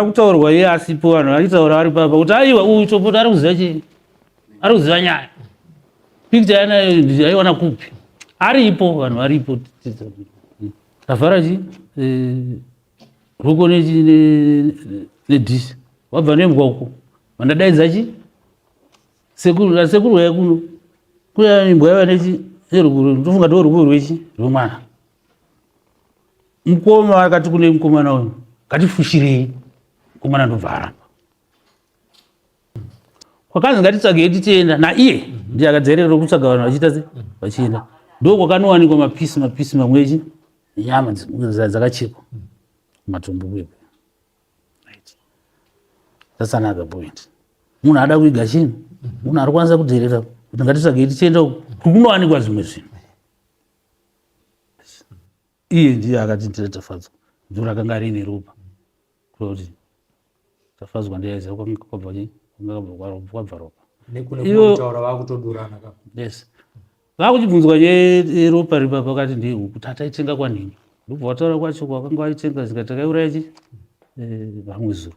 Kutaurwa iye asipo vanhu vachitaura vari papa kuti aiwa uyu Chopota ari kuziva chii? Ari kuziva nyaya. Picture yana yaiwana kupi? Aripo vanhu varipo. Tavhara chii? Eh, ruko nedhishi. Wabva nembwa uko. Vandadaidza chii? Sekuru, sekuru waya kuno. Kuya imbwa yava nechi nerukuru. Ndofunga ndiwo rukuru rwechi rwemwana. mukoma akati kune mukomana uyu ngatifushirei mukomana ndobva aramba kwakanzi ngatitsvagei tichienda naiye ndiye akadzerera kutsvaga vanhu vachiita se vachienda ndo kwakanowanikwa mapisi mapisi mamwe echi nyama dzakachekwa matumbu kwepo that's another point munhu ada kuiga chinhu munhu ari kwanisa kudherera kuti ngatitsvagei tichienda kukunowanikwa zvimwe zvinhu iye ndiye akatindira tafadzwa ndiro akanga riine ropa kuti tafadzwa ndiyaiziva kwabva ropa yes vakuchibvunzwa yeropa ripa pakati ndihu kuti ataitenga kwanhingi ndobva wataura kwacho kwakanga waitenga zikati takaiuraya chi eh, vamwe zuro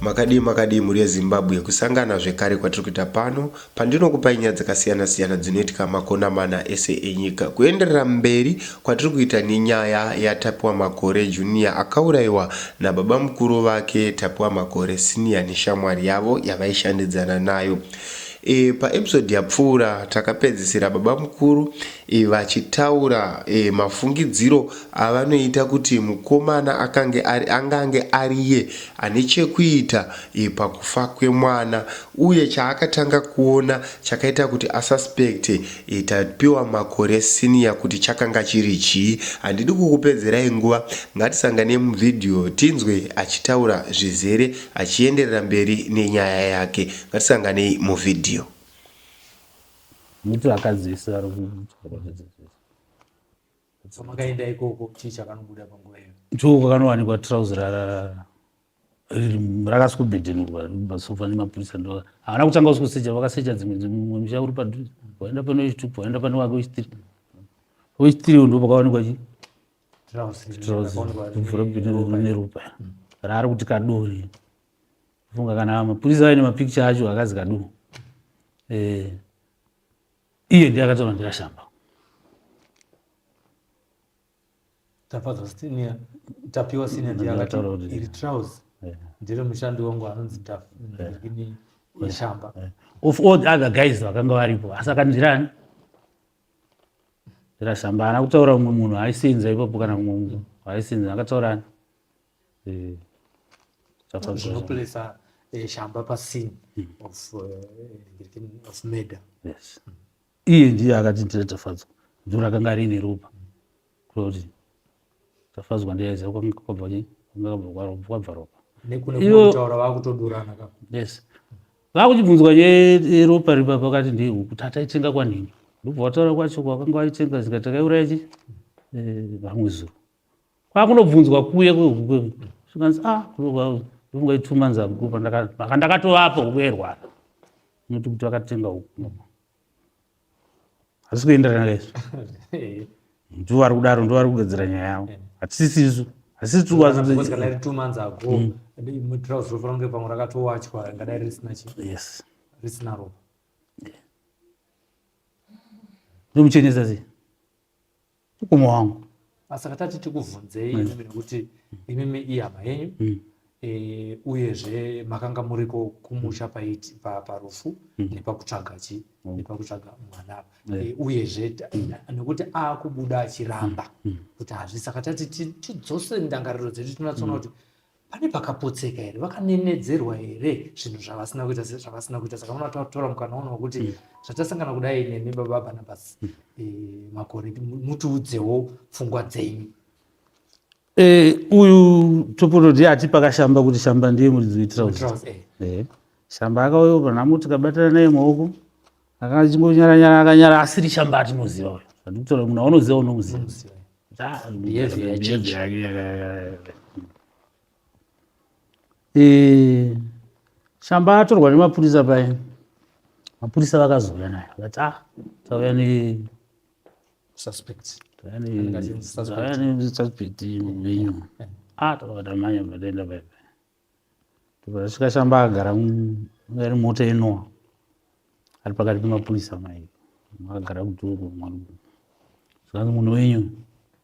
Makadii makadii mhuri yeZimbabwe, kusangana zvekare kwatiri kuita pano pandinokupai nyaya dzakasiyana siyana dzinoitika makona mana ese enyika. Kuenderera mberi kwatiri kuita nenyaya yaTapiwa Makore Junior akauraiwa nababamukuru vake Tapiwa Makore Senior neshamwari yavo yavaishandidzana nayo. E, paepisode yapfuura takapedzisira babamukuru e, vachitaura e, mafungidziro avanoita kuti mukomana akange ari, angange ariye ane chekuita pakufa kwemwana uye chaakatanga kuona chakaita kuti asuspecte Tapiwa Makore senior kuti chakanga chiri chii. Handidi kukupedzerai nguva ngatisanganei muvideo tinzwe achitaura zvizere achienderera mberi nenyaya yake. Ngatisanganei muvideo. Muti akadzivisa vari kuchikoro chedzidzi. so makaenda ikoko chii chakanobuda panguva iyo ndiko kwakanowanikwa trouser rarara rakasi kubhedhenurwa masofa nemapurisa ndo havana kutanga usi kusecha vakasecha dzimwe dzimwe musha uri padhuze waenda pane wechitup waenda pane wake wechitiri wechitiri ndo pakawanikwa chi vhura bhedhenurwa neropa raari kuti kadori funga kana mapurisa aine mapikicha acho akazi kadu eh. iye ndiye akataura ndikashamba tafadzwa senior tapiwa senior ndiye akataura kuti iri trouse ndiri mushandi wangu anonzi ndakini yashamba of all the other guys vakanga varipo asi akandirani ndirashamba ana kutaura umwe munhu aisenza ipapo kana umwe munhu aisenza akataurani eh, zvinoplesa eh, shamba pascene hmm. of eh, murder yes hmm. iye ndiye akati ndira tafadzwa dzuva rakanga riine ropa kuti tafadzwa ndiyaiziva kwanga kwabva chii kwanga kwabva ropa yes vakuchibvunzwa yeropa ripa pakati ndihu kuti ataitenga kwanhingi ndobva wataura kwacho kwakanga waitenga zika takaiuraya chi eh, vamwe zuro kwakunobvunzwa kuya kwehukuekanzi ah kuroga ituma nzamkupa maka ndakatovapo huku yairwara unoti kuti vakatenga huku hazisi kuenderana kaizvo ndivo vari kudaro ndivo vari kugadzira nyaya yavo hatisisisu ndomuchenesa sei Mkoma wangu. Asaka tati tikuvhunzei mm. nekuti imimi ihama yenyu mm. e, uyezve makanga muriko kumusha paiti parufu mm. nepakutsvaga chi mm. nepakutsvaga mwana apa mm. e, uyezve mm. nekuti akubuda achiramba mm. kuti hazvisaka tati tidzose ndangariro dzedu tinotsona mm. kuti mm. pane pakapotseka here vakanenedzerwa here zvinhu zvavasina kuita zvavasina kuita saka munotaura mukana uno wekuti mm. zvatasangana kudai nemi baba barnabas mm. e, makore mutiudzewo pfungwa dzenyu e, uyu topototi ati pakashamba kuti shamba ndiye muridzi wetirauzi eh. e, shamba akauyo panamuti kabatana naye maoko akachingonyara nyara akanyara asiri chamba atinoziva uyo andikutora munhu aunoziva unomuziva shamba eh, atorwa nemapurisa paye mapurisa vakazouya naye vakati ah tauya ne suspect tauya ne suspect venyu ah takatamanya pataenda paipa Tasvika shamba agara ari mota inowa ari pakati pemapurisa mai agara kudhoko zvikanzi munhu wenyu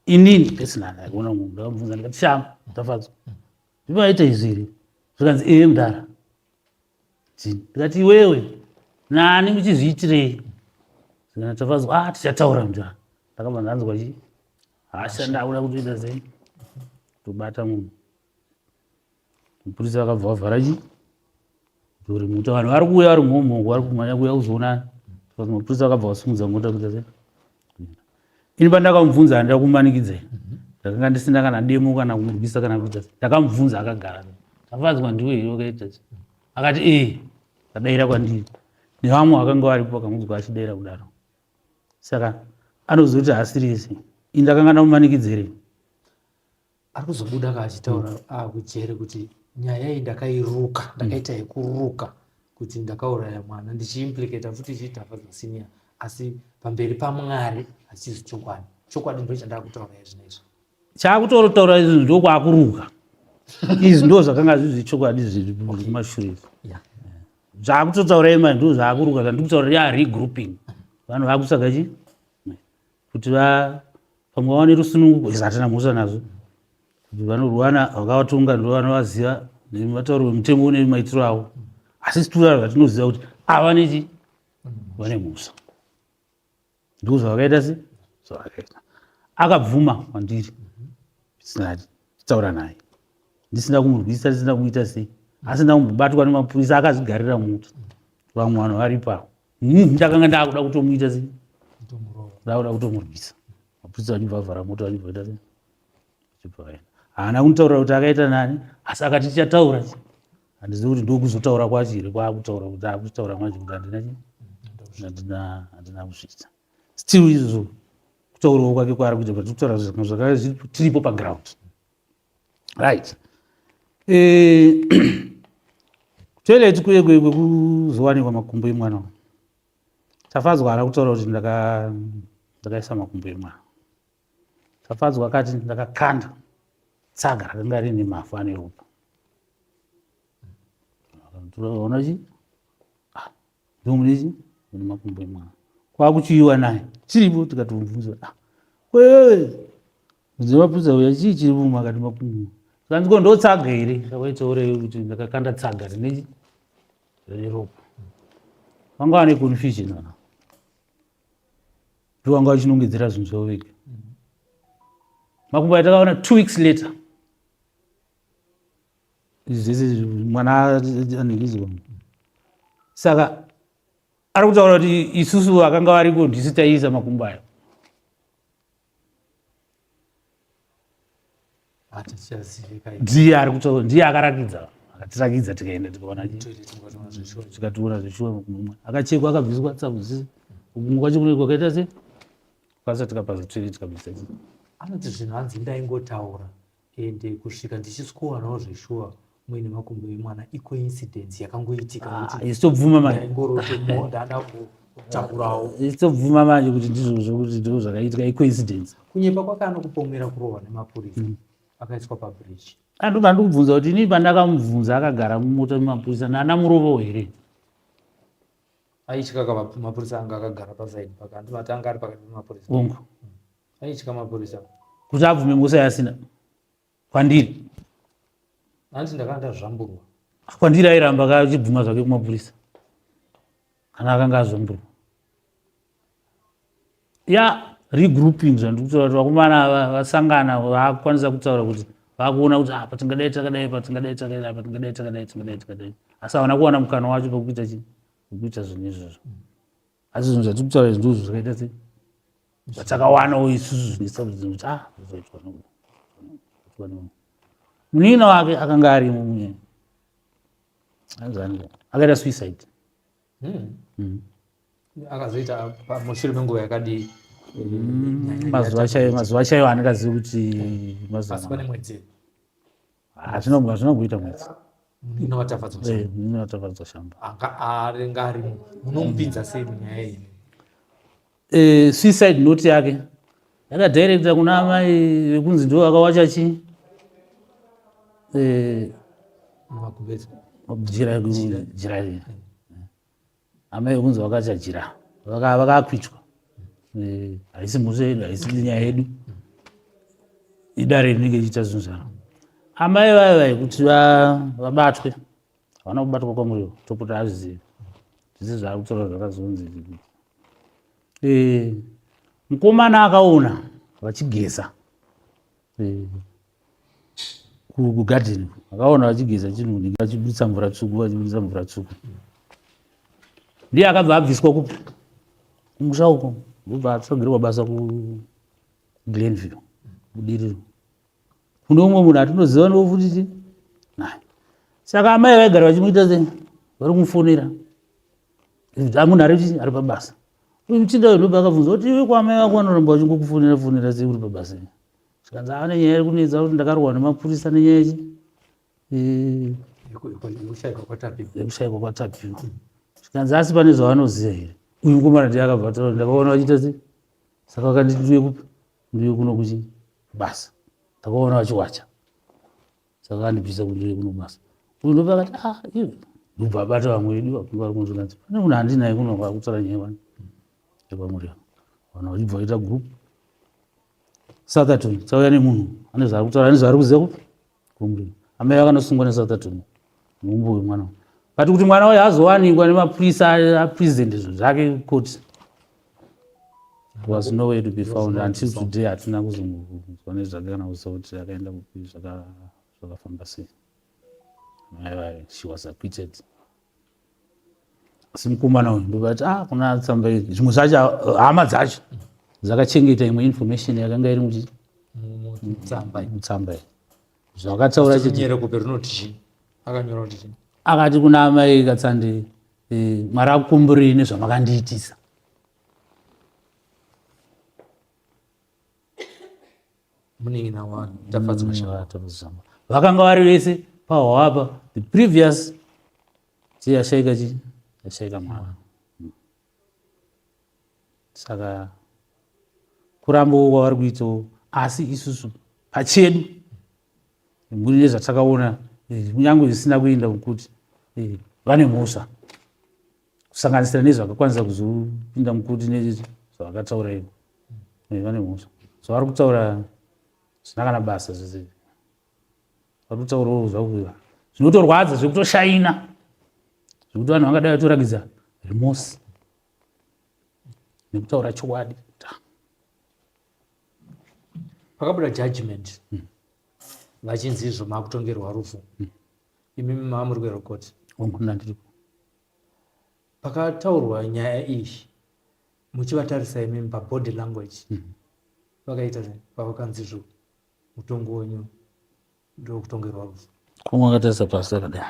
inini ndisina ndakuona munhu ndakamubvunza ndikati shamba tafadzwa zvivaita izviri zvikanzi ee eh, mudhara chii ndikati iwewe nani muchizviitirei zvikana tafadzwa a ah, tichataura mudhara ndakabva ndanzwa chii hasha ndakuda kutoita sei tobata munhu mapurisa vakabva vavhara chi duri mota vanhu vari kuuya vari mhomhongo vari kumhanya kuuya kuzoonana mapurisa vakabva vasumudza mota kuita se ini pandakamubvunza handida kumanikidzai ndakanga ndisina kana demo kana kumurwisa kana kuita se ndakamubvunza akagara tafadzwa ndiwe here wakaita se akati ee eh, vadaira kwandiri nevamwe vakanga varipo vakamudzwa achidaira kudaro saka anozoti hasirisi ini ndakanga ndamumanikidzerei ari kuzobuda ka achitaura mm. akujere ah, kuti nyaya iyi ndakairuka mm. ndakaita mm. yekuruka kuti ndakauraya mwana ndichiimplikata futi ichiitafa zvasiniya asi pamberi pamwari hachizi chokwadi chokwadi ndo chandaa kutaura izvinezvi chaakutorotaura izvi ndokwakuruka izvi ndo zvakanga zvizi chokwadi zviri kumashure zvaakutotaura ima ndo zvaakuruka zvandikutaura yaa regrouping vanhu vakusaka chii kuti pamwe vawane rusununguko izvo hatina mhosva nazvo kuti vanorwana vakavatonga ndo vanovaziva nematauro vemutengo une maitiro avo asi situra zvatinoziva kuti ava nechi vane mhosva ndiko zvavakaita se zvavakaita akabvuma kwandiri sinati taura naye ndisina kumurwisa ndisina kuita sei asi ndakumbobatwa nemapurisa akazvigarira muti vamwe vanhu varipo avo Hmm, ndakanga ndakuda kutomuita sei ndakuda kutomurwisa mapurisa vachibva vavhara moto vachibva vaita sei achibva vaenda haana kunditaurira kuti akaita nani asi akati tichataura handizivi kuti ndokuzotaura kwacho here kwaakutaura kuti akutaura manje kuti handina chi handina handina kusvitsa still izvo kutaurawo kwake kwaari kuita but kutaura zvakanga zvakanga zviripo paground right eh, toilet kuye kwekuzowanikwa makumbo emwana tafadzwa haana kutaura kuti ndakaisa makumbo emwana tafadzwa akati ndakakanda tsaga rakanga rine mafu ane ropa ona chii ndomunezi mune makumbo emwana kwakuchiyiwa naye chiripo tikatomubvunza ah, wewe muzimapudza uya chii chiri muma akati makumbo kanzi ko ndotsaga here ndakaitsaurei kuti ndakakanda tsaga rine rine ropa vanga vane confusion aa ndo vanga vachinongedzera zvinhu zvavo vega makumbo atakaona two weeks later this is mwana anengiziwa saka ari kutaura kuti isusu vakanga variko ndisu taiisa makumbo ayo ndiye ari kutaura ndiye akarakidza akatirakidza tikaenda tikaona tikatoona zveshuwa makumbo akachekwa akabviswa tsakuzizi kumwe kwacho kune kwakaita se kwasa tikapasa toilet kabisa anoti zvinhu hanzi ndaingotaura ende kusvika ndichisikuwanawo zveshuwa muine makumbo emwana icoincidence yakangoitika isitobvuma ah, mandaisitobvuma manje kuti ndizvozvo kuti ndizvo zvakaitika icoincidence kunyepa kwake anokupomera kurohwa nemapurisa mm. akaiswa pabridge andoba ah, ndikubvunza kuti inii pandakamubvunza akagara mumota mumapurisa nana murovo here aityaka mapurisa anga akagara pasaidi paka andimatanga ari pakati pemapurisa ongo aitya mapurisa kuti abvume ngusa yasina kwandiri hanzi ndakanga ndazvamburwa kwandiri airamba kachibvuma zvake kumapurisa kana akanga azvamburwa ya regrouping zvandiri kutaura kuti vakomana vasangana vakukwanisa kutaura kuti vakuona kuti apa ah, tingadai takadai pa tingadai takadai apa tingadai takadai tingadai takadai asi havana kuwana mukana wacho pekuita chii pekuita zvinhu izvozvo asi zvinhu zvatiri kutaura izvi ndizvo zvakaita sei zvatakawanawo isusu zvinesabudzi kuti ah zvaitwa nokuda munina wake akanga arimo munye anzani akaita suicide hmm. Hmm. akazoita mushure menguva yakadii hmm, mazuva chaiyo mazuva chaiyo handikazivi kuti mazuva hazvinoguita mwedzi munin'ina vatafadzwa shamba angaanga arimo munomupinza sei munyaya iyi eh, suicide note yake yakadirecta kuna amai vekunzi ndivo vakawacha chi eh, jira jira riya amai kunzi vakachajira vakakwitwa eh, haisi mhosva yedu haisi nyaya yedu idare rinenge ichiita zvinhu zvaro amai vayo vai kuti vabatwe havana kubatwa kwamuriwo topota azvizivi zvese zvaari kutaura zvakazonzi eh, mukomana akaona vachigeza kugadheni akaona vachigeza chinhu vachibudisa mvura tsvuku vachibudisa mvura tsvuku ndiye akabva abviswa kupi kumusha uko ndobva atsogerwa basa kuglenville kudiriro kune umwe munhu atinoziva ndiwo futi ti saka amai vaigara vachimuita se vari kumufonera amuna ari ari pabasa uchida wedoba akabvunza kuti iwe kwamai vako vanoramba vachingokufonera fonera sei uri pabasa zvikanzi ane nyaya iri kunetsa kuti ndakarohwa nemapurisa nenyaya yechi yekushaikwa kwatapi zvikanzi asi pane zvavanoziva here uyu mukomana ndiye akabva ataura ndakaona vachiita sei saka vakanditi ndiuye kupi ndiuye kuno kuchi basa ndakaona vachiwacha saka vandibvisa kundiri kuno basa uyu ndopa akati a ah, iwe ndobva abata vamwe vedu vakunge vari kunozvikanzi pane munhu handinaye kuno kwakutsara nyaya vani ekwamuri vanhu vachibva vaita group sathaton tsauya nemunhu ane zvaari kutaura ane zvaari kuziva kupi kumri amai vakanosungwa nesathaton mumbu wemwana vati kuti mwana wayo azowanikwa nemapurisa apresent izvo zvake koti was nowhere to be found until today hatina kuzonzwa nezvake kana kuziva kuti akaenda kupi zvakafamba sei mai vaye she was acquitted asi mukomana uyu ndovati ah kuna tsamba iri zvimwe zvacho hama dzacho dzakachengeta imwe information yakanga iri muti mutsamba mutsamba iyi zvakataura chiti akati kuna amai katsandei Eh, mwari akukomborei nezvamakandiitisa munin'ina wani tafadzwa mm, shava tafadzwa vakanga vari vese pahwapa the previous chii yashaika chii yashaika mwana mm. saka kurambawo kwavari kuitawo asi isusu pachedu mune zvatakaona eh, kunyange zvisina kuenda mukuti eh, vane mhosva kusanganisira nezvakakwanisa kuzopinda mukuti nezvavakataura ivo eh, vane mhosva so vari kutaura zvina kana basa zvese vari kutaurawo zvakuva zvinotorwadza zvekutoshaina zvekuti vanhu vangadai vatorakidza remosi nekutaura chokwadi pakabuda judgment hmm. vachinzi izvo makutongerwa rufu hmm. imi mamuri kwerokoti pakataurwa nyaya iyi muchivatarisa imimi pabody language hmm. vakaita pavakanzi izvo mutongo wenyu ndokutongerwa rufu kumwe akatarisa pasi akadai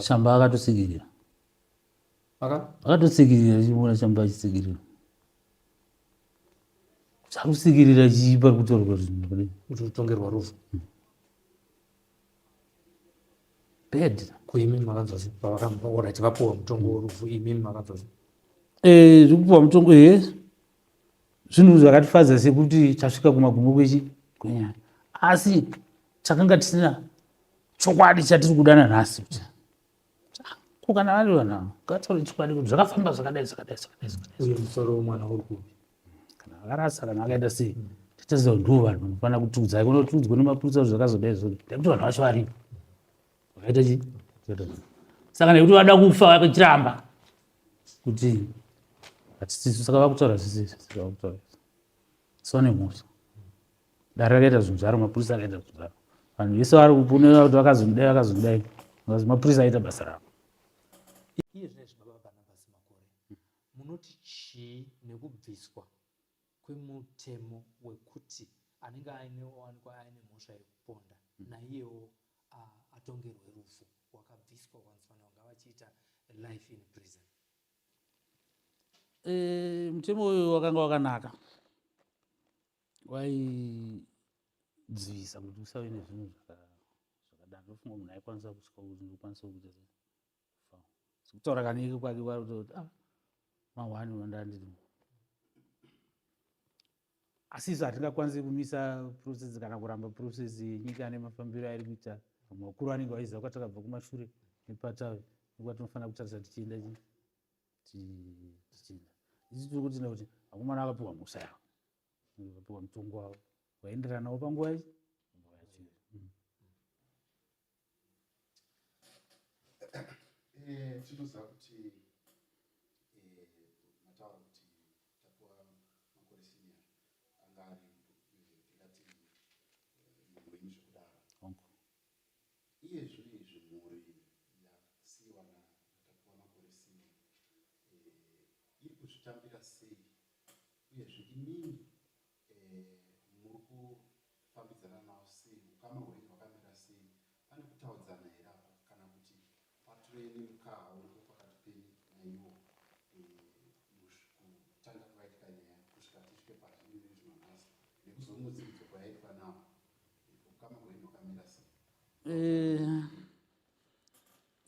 shamba akatosigirira akatotsikirira achiona chamba achitsikirira chakusikirira chii pari kutorwa zvinhu kudai kuti utongerwa rufu hmm. bad kuimimi makanzwa sei pavakaora tivapuwa mutongo worufu imimi makanzwa sei eh, zvekupuwa mutongo he zvinhu zvakatifadza sekuti tasvika kumagumo kwechi kwenyaya asi takanga tisina chokwadi chatiri kudana nhasi ko kana vari vanhu ava ngataure chokwadi kuti zvakafamba zvakadai zvakadai zvakadai zvakadaiuye musoro wemwana uri kupi kana akarasa kana akaita sei titaziva kuti ndivo vanhu vanofanira kutiudzai kuno tiudzwe nemapurisa kuti zvakazodai zvo nekuti vanhu vacho varipo vakaita chii saka nekuti vada kufa vakachiramba kuti hatisisu saka vakutaura zvisizvi vakutaura sone mhosva dare rakaita zvinhu zvaro mapurisa akaita zvinhu zvaro vanhu vese vari kupunira kuti vakazonidai vakazonidai bcause mapurisa aita basa ravo munoti chii nekubviswa kwemutemo wekuti anenge aineowanikwa aine mhosva yekuponda hmm. naiyewo atongerwe rufu wakabviswa kwanzifanira kunga vachiita life in prison e, mutemo uyu wakanga wakanaka waidzivisa kuti usave nezvinhu zvakadaro ndofunga munhu aikwanisa kusvika kuti ndokwanisa kuita kutaura kanike kwake kwari kuta kuti ah, mahwani vandandiri asi isu hatingakwanisi kumisa process kana kuramba process yenyika nemafambiro airi kuita vamwe vakuru vanenge vaiziva kwatakabva kumashure nepatavi nekwa tinofanira kutarisa tichienda chii tichida isi tiri kutenda kuti akomana akapiwa mhosva yavo akapiwa mutongo wavo waenderanawo panguva ichi mm. eh, tinoziva kuti eh, mataura kuti tapiwa makore senior anga ari eh, ndingati munhu wenyu zvekudaro Iye zvino izvi mhuri yasiiwa na naTapiwa Makore Senior eh, iri kuzvitambira sei uyezve imimi eh, muri kufambidzana nawo sei, ukama hwenyu hwakamira sei, pane kutaudzana here apa kana kuti Pature nemukaha uripo pakati penyu naiwo kutanga kwakaitika nyaya kusvika tisvike pazviri nezvino nhasi nekuzomudziridzo kwayaitwa nawo ukama hwenyu hwakamira sei eh,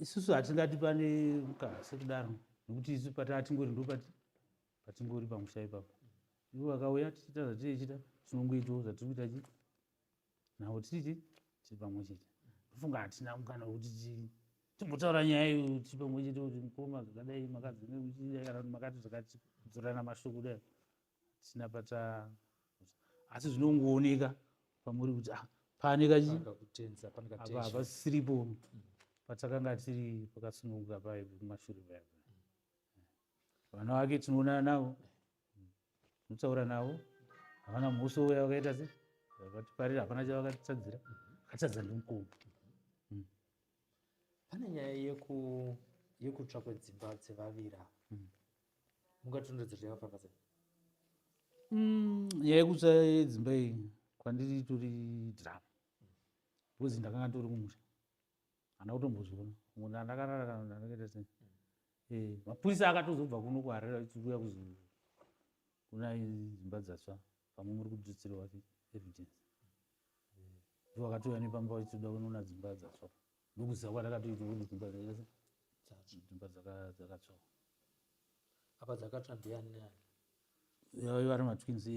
isusu hatingati pane mukaha sekudaro nekuti isu pataa tingori ndo patingori pamusha ipapo ivo vakauya tichita zvatiri chita tinongoitawo zvatiri kuita chii navo titi tiri pamwe chete ndofunga hatina mukana wekuti timbotaura nyaya iyo kuti pamwe chete kuti mukoma zvakadai makadzingekana kuti makati zvakatidzorana mashoko kudai hatina pata asi zvinongooneka pamuri kuti ah, pane kachihapasisiripo mm. patakanga tiri pakasununguka paye kumashure paya vana vake tinoonana navo Ndinotaura navo havana musi uya vakaita se vakatiparira hapana chavakatitadzira vakatadza ndimukuru. Mm. Pane nyaya yeku yekutsva kwedzimba dzevavira mm. mungatondodzero yakafamba sei? Mm, nyaya yekutsva yedzimba iyi kwandiri itori drama because ndakanga ndori kumusha hana kutombozviona muna ndakarara kana ndakaita sei eh mapurisa akatozobva kuno kuharera ichiuya kuzo kuna dzimba dzatsva pamwe muri kudzitsirwa evidence eh, ndivo akatouya nepamba vachitoda kunoona dzimba dzatsva ndokuziva kwandakatoita kuti dzimba dzakaita sei dzimba dzakatsva apa dzakatsva ndiani neani vari matwins eh,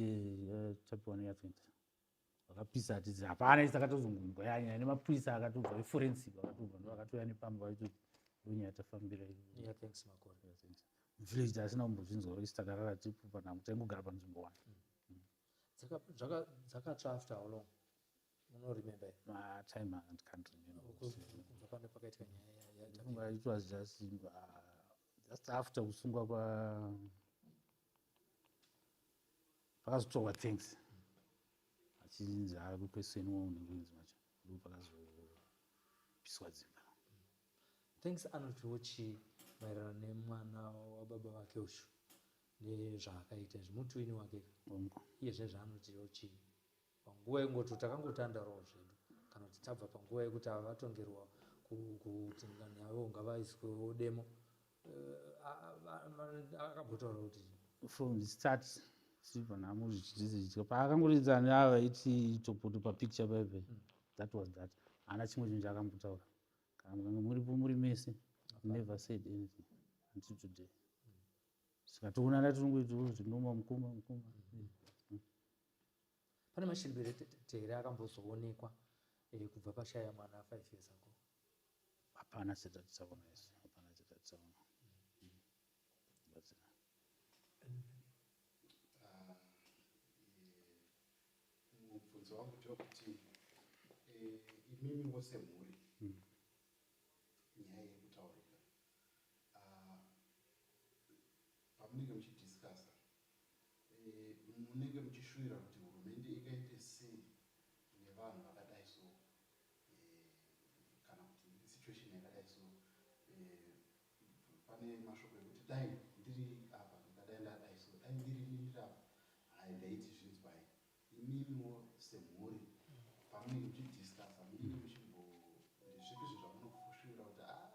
eh, tapiwa neyatwins vakapisa atizi hapana isi akatozongonzwa yanyaya nemapurisa akatobva eforensic akatobva ndo akatouya nepamba vaitoti ndonyaya tafambira muvillage taasina kumbozvinzwa isi takarara tipu panango taingogara panzvimbo one mm. dzakatsva after how long unoremember ah, time and can't rememberbva pane pakaitika nyaya it was just uh, just after kusungwa kwa pakazotorwa thanks achinzi akukweseni wo unenge unzi macho ndo pakazopiswa dzimba thanks anotiwo chii maererano nemwana wababa vake ushu nezvaakaita izvi mutwini wake iye zvezvaanotiwo chii panguva yengoto takangotandaroo zvedu kana kuti tabva panguva yekuti ava vatongerwa kuti ngani yavo ngavaiswewo demo eh, akambotaura kuti from the start silver nhamo zvichitizidya paakangoridza neava vaiti topoto papicture paive hmm. that was that haana chimwe chinhu chaakambotaura kana mukange muripo muri mese never said anything until today hmm. saka toonana tirongoitoo zvinoma mukoma mukoma hmm. Pane mashiripirete here akambozoonekwa eh, kubva pashaya mwana 5 years ago? Hapana chatatisaona isu, hapana chatatisaona. Batsira. Ah, eh, mubvunzo wangu ndewekuti eh, imimi wose mhuri Mm. nyaya iri kutaurika Ah, pamunenge muchidiscasa Eh, munenge muchishuvira kuti hurumende ingaite sei nevanhu vakadai so eh, kana kuti situation yakadai so eh, pane mashoko ekuti dai ndiri apa ndadai ndadai so dai ndiri ndiri apa hai ndaiti zvinzwai imimiwo semhuri pamunenge muchidiscasa munenge muchimbo zvipi zvezvamunofushuvira kuti a ah,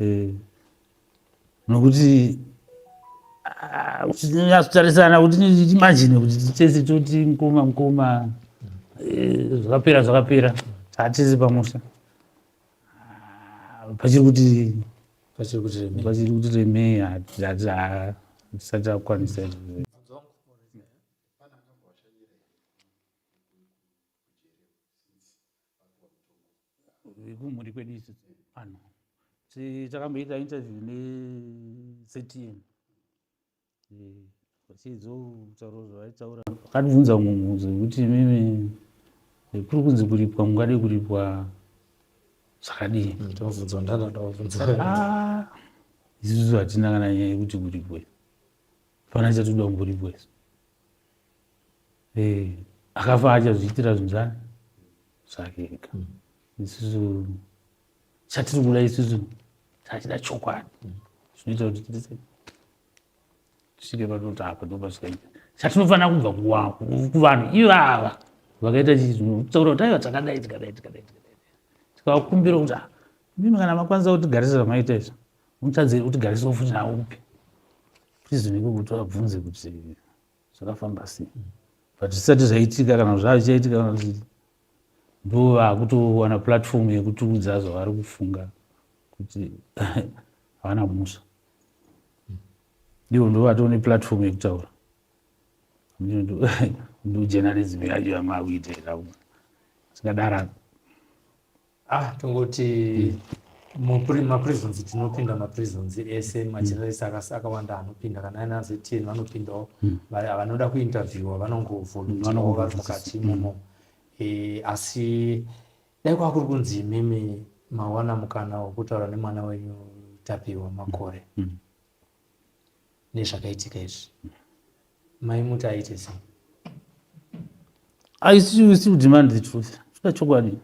eh, nokuti nyatsotarisana kuti imagine kuti tese toti mukoma mukoma eh, zvakapera zvakapera hatisi pamusha ah, pachiri kuti pachiri kuti remei pachiri kuti remei hatisati akwanisa vekumhuri kwedu isu vanhu takamboita interview nectm vachizotaura zvavaitaura vakatibvunza mumwe mubvunzo wekuti imimi kuri kunzi kuripwa mungade kuripwa zvakadii ah, isusu hatina kana nyaya yekuti kuripwe fana chatoda kumboripwa isu eh, akafa achazviitira zvinhu zvani zvake ega mm. isusu chatiri kuda isusu tachida chokwadi mm. zvinoita kuti titise tisvike panoti apa ndopasvikaita chatinofanira kubva kuvanhu ivava vakaita chizvinotaura kuti aiva takadai tikadai tikadai tikadai tikavakumbira kuti ah, mimi kana makwanisa kutigarisa zvamaita izvo mutadze utigarisa ufuti nawo kupi prizoniko kuti vabvunze kuti zvakafamba sei but zvisati zvaitika kana zvavichaitika kana zii ndo vakutowana platform yekutiudza zvavari kufunga kuti havana musha ndivo ndo vatoo neplatform yekutaura ndojournalism yacho yamakuitira zvingadara ah tongoti maprisons tinopinda maprisons ese hmm. majournalist akawanda anopinda kana aina ztn vanopindawo hmm. vanoda kuinterviewa vanongovolunteawo hmm, vari mukati imomo eh, asi dai kwava kuri kunzi imimi mawana mukana wekutaura nemwana wenyu tapiwa makore nezvakaitika izvi mai muti aite sei aisiusi kudemand the truth zvida chokwadi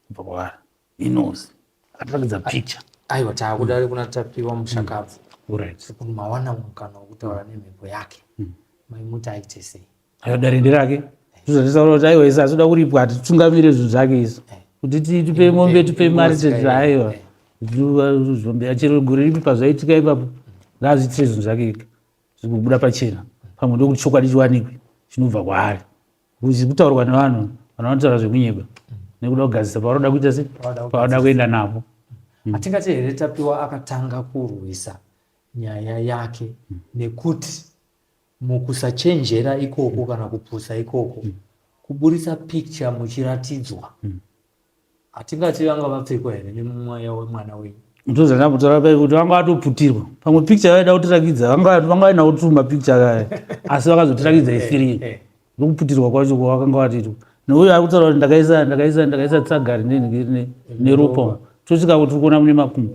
kubva kwaari inozi akatirakidza picture aiwa taakuda ari kuna tapiwa mushakabvu mm. right kuti mawana mukana wokutaura nemhepo yake mm. mai muti aite sei Ayoda rende rake. Zvozvataura kuti aiwa isi asoda kuripwa ati tungamire zvinhu zvake isu. Kuti tipe mombe tipe mari tete aiwa. Zvombe yachero gore ripi pazvaitika ipapo. Ngazviitire zvinhu zvake ika. Zvikubuda pachena. Pamwe ndokuti chokwadi chiwanikwe chinobva kwaari. Kuzi kutaurwa nevanhu vanotaura zvekunyeba. Nekuda kugadzisa pavanoda kuita se pavanoda kuenda napo. Hmm. Atingati here tapiwa akatanga kurwisa nyaya yake hmm. nekuti Mukusachenjera ikoko kana kupusa ikoko mm. kuburitsa picture muchiratidzwa mm. hatingati vanga vapfekwa here nemumweya wemwana wenyu ndozana kutaura pai kuti vanga vatoputirwa pamwe picture vaida kutirakidza vanga vaina kutuma picture kaya asi vakazotirakidza isirii eh, eh, eh. nokuputirwa kwacho kwavakanga vatitwa nouyo ari kutaura kuti ndakaisa ndakaisa ndakaisa tsagari neropa tosvika kuti tikuona mune makumbo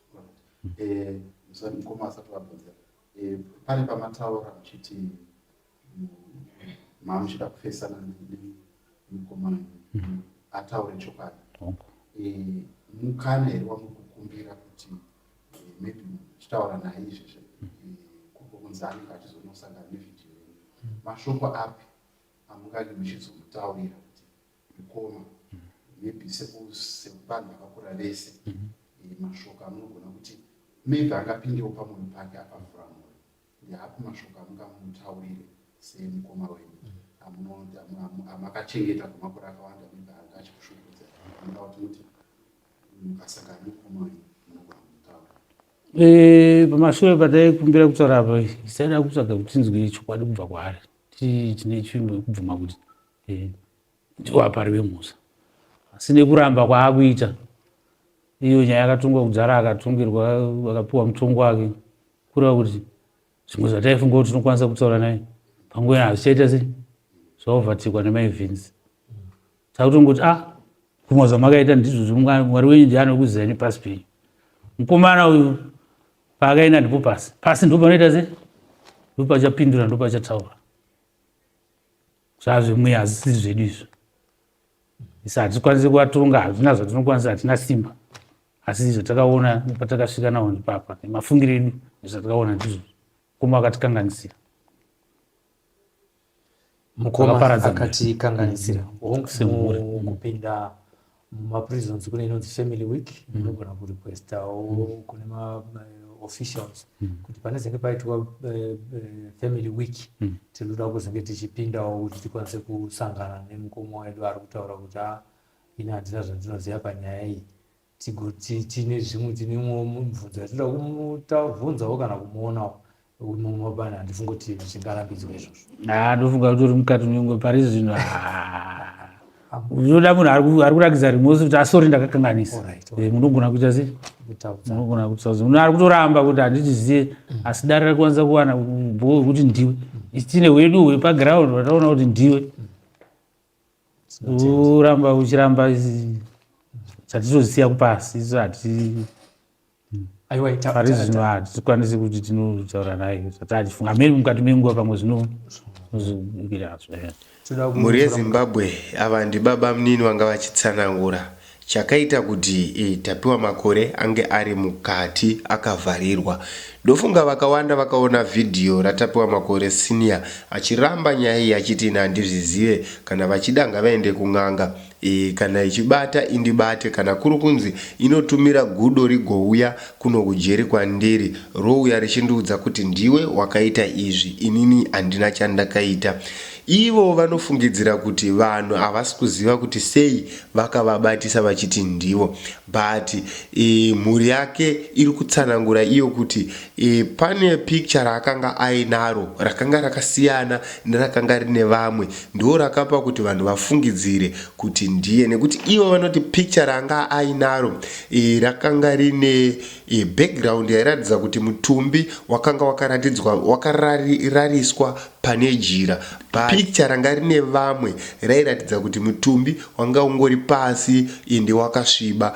Eh, sorry mukoma asati vabvunza eh, pane pamataura muchiti mm, mamuchida kufesana nemukomana mhm. ataure chokwadi eh, mukana here wamukukumbira kuti maybe muchitaura naye izvezve mhm. kuko kunzi anenge achizonosangana nevideo yenyu mhm. mashoko api amungani muchizomutaurira kuti Mkoma maybe sevanhu vakakura vese eh, mashoko amunogona kuti maybe angapindewo pamoyo pake apavhura moyo ndeapi mashoko amungamutaurire semukoma wenyu amakachengeta kwemakore akawanda maybe anga achikushungurudza anoda kuti muti mukasangana mukoma wenyu munogona kumutaura eh, pamashure pataikumbira kutaura apa isaida kutsvaga kuti tinzwe chokwadi kubva kwaari tine chimwe kubvuma kuti eh, ndiwo apari vemusa asi nekuramba kwaakuita iyo nyaya yakatongwa kudhara akatongirwa akapiwa mutongo wake kureva kuti zvimwe zvataifunga kuti tinokwanisa kutaura naye panguva ina hazvichaita sei zvaovatikwa nemaevhins takutongoti a ah, kumwa zvamakaita ndizvozvo mwari wenyu ndiani wekuzai nepasi penyu mukomana uyu paakaenda ndipo pasi pasi ndo panoita sei ndo pachapindura ndo pachataura zvazvemweya hazvisi zvedu izvo isa hatikwanisi kuvatonga hazvina zvatinokwanisa hatina simba asi izvo takaona patakasvika nawo ndipapa nemafungiro edu nezvatakaona ndizvo mukoma akatikanganisira mukoma akatikanganisira kupinda mumaprisons kune inonzi family week mm. inogona kurequestawo mm. kune maofficials eh, mm. kuti pane zenge paitwa eh, eh, family week tinoda kuzenge tichipindawo kuti tikwanise kusangana nemukoma wedu ari kutaura kuti a ah, ini handina zvandinoziva panyaya iyi tine zvimwe tinemwo mubvunzo yatinoda kumutavhunzawo kana kumuonawo unomobana handifunga kuti zvichingarambidzwa izvozvo haa ndofunga kuti uri mukati nyongo pari zvino unoda munhu ari kurakidza rimosi kuti asori ah, ndakakanganisa eh, munogona kuita sei munogona kuita sei munhu ari kutoramba kuti handitiziye mm. asi dare rari kwanisa kuwana bho wekuti ndiwe mm. isine wedu wepaground vataona kuti ndiwe mm. uramba uchiramba chatizozisiya kupasi isu hati pari zvino hatikwanisi kuti tinotaura naye zati achifunga miri mukati menguva pamwe zvino mhuri yezimbabwe ava ndibaba munini vanga vachitsanangura Chakaita kuti Tapiwa Makore ange ari mukati akavharirwa. Ndofunga vakawanda vakaona vhidhiyo raTapiwa Makore Senior achiramba nyaya iyi achiti ini handizvizive, kana vachida ngavaende kun'anga, kana ichibata indibate, kana kuri kunzi inotumira gudo rigouya kuno kujeri kwandiri rouya richindiudza kuti ndiwe wakaita izvi, inini handina chandakaita. Ivo vanofungidzira kuti vanhu havasi kuziva kuti sei vakavabatisa vachiti ndivo but e, mhuri yake iri kutsanangura iyo kuti e, pane picture raakanga ainaro rakanga rakasiyana nerakanga rine vamwe ndo rakapa kuti vanhu vafungidzire kuti ndiye nekuti ivo vanoti picture raanga ainaro e, rakanga rine e, background yairatidza kuti mutumbi wakanga wakaratidzwa wakararariswa pane jira. Picture ranga rine vamwe rairatidza kuti mutumbi wanga ungori pasi ende wakasviba.